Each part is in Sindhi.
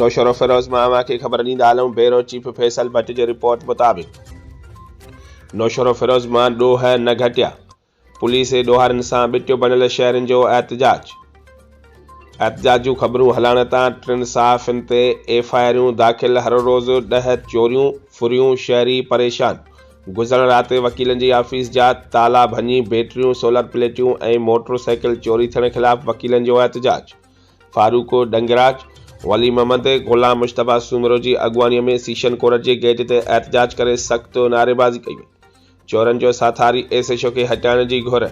نوشهروفيروز مان اوهان کي خبر ڏيندا هلون بيورو چيف فيصل ڀٽ جي رپورٽ مطابق نوشهروفيروز مان ڏوهه نه گهٽيا پوليس جي ڏوهارين سان ٻٽيو بڻيل شهرين جو احتجاج احتجاج جون خبرون هلائڻ تان ٽن صحافين تي ايف آء آريون داخل هر روز ڏهه چوريون ڦريون شهري پريشان گذريل رات وڪيلن جي آفيس جا تالا ڀڃي بيٽريون سولر پليٽيون ۽ موٽر سائيڪل چوري ٿيڻ خلاف وڪيلن جو احتجاج فاروق ڏنگراچ، ولي محمد، غلام مشتبه سومرو جي اڳواڻيء ۾ سيشن ڪورٽ جي گيٽ تي احتجاج ڪري سخت نعريبازي ڪئي وئي. چورن جو ساٿاري ايس ايڇ او کي هٽائڻ جي گهر،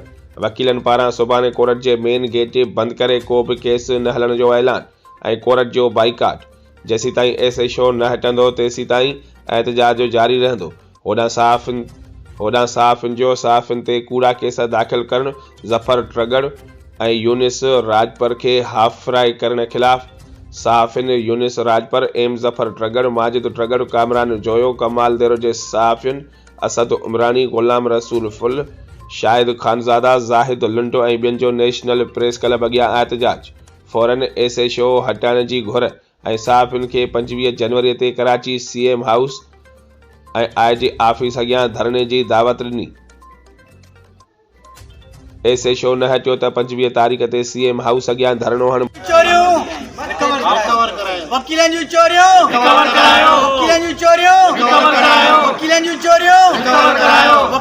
وڪيلن پاران سڀاڻي ڪورٽ جي مين گيٽ بند ڪري ڪو به ڪيس نه هلڻ جو اعلان ۽ ڪورٽ جو بائيڪاٽ، جيسيتائين ايس ايڇ او نه هٽندو تيسيتائين احتجاج جاري رهندو، هوڏانهن صحافين هوڏانهن صحافين جو صحافين تي ڪوڙا ڪيس داخل ڪرڻ، ظفر ٽرڳڙ ۽ يونس راڄپر کي هاف فرائي ڪرڻ خلاف صحافين يونس راڄپر، ايم ظفر ٽرڳڙ، ماجد ٽرڳڙ، ڪامران جويو، ڪمال ديرو جي صحافين اسد عمراڻي، غلام رسول ڦل، شاهد خانزاده، زاهد لنڊو ۽ ٻين جو نيشنل پريس ڪلب اڳيان احتجاج، فورن ايس ايڇ او هٽائڻ جي گهر ۽ صحافين کي پنجويهه جنوري تي Karachi C M house ۽ I G office اڳيان ڌرڻي جي دعوت ڏني. ايس ايڇ او نه هٽيو ته پنجويهه تاريخ تي سي ايم هائوس اڳيان ڌرڻو هڻبو.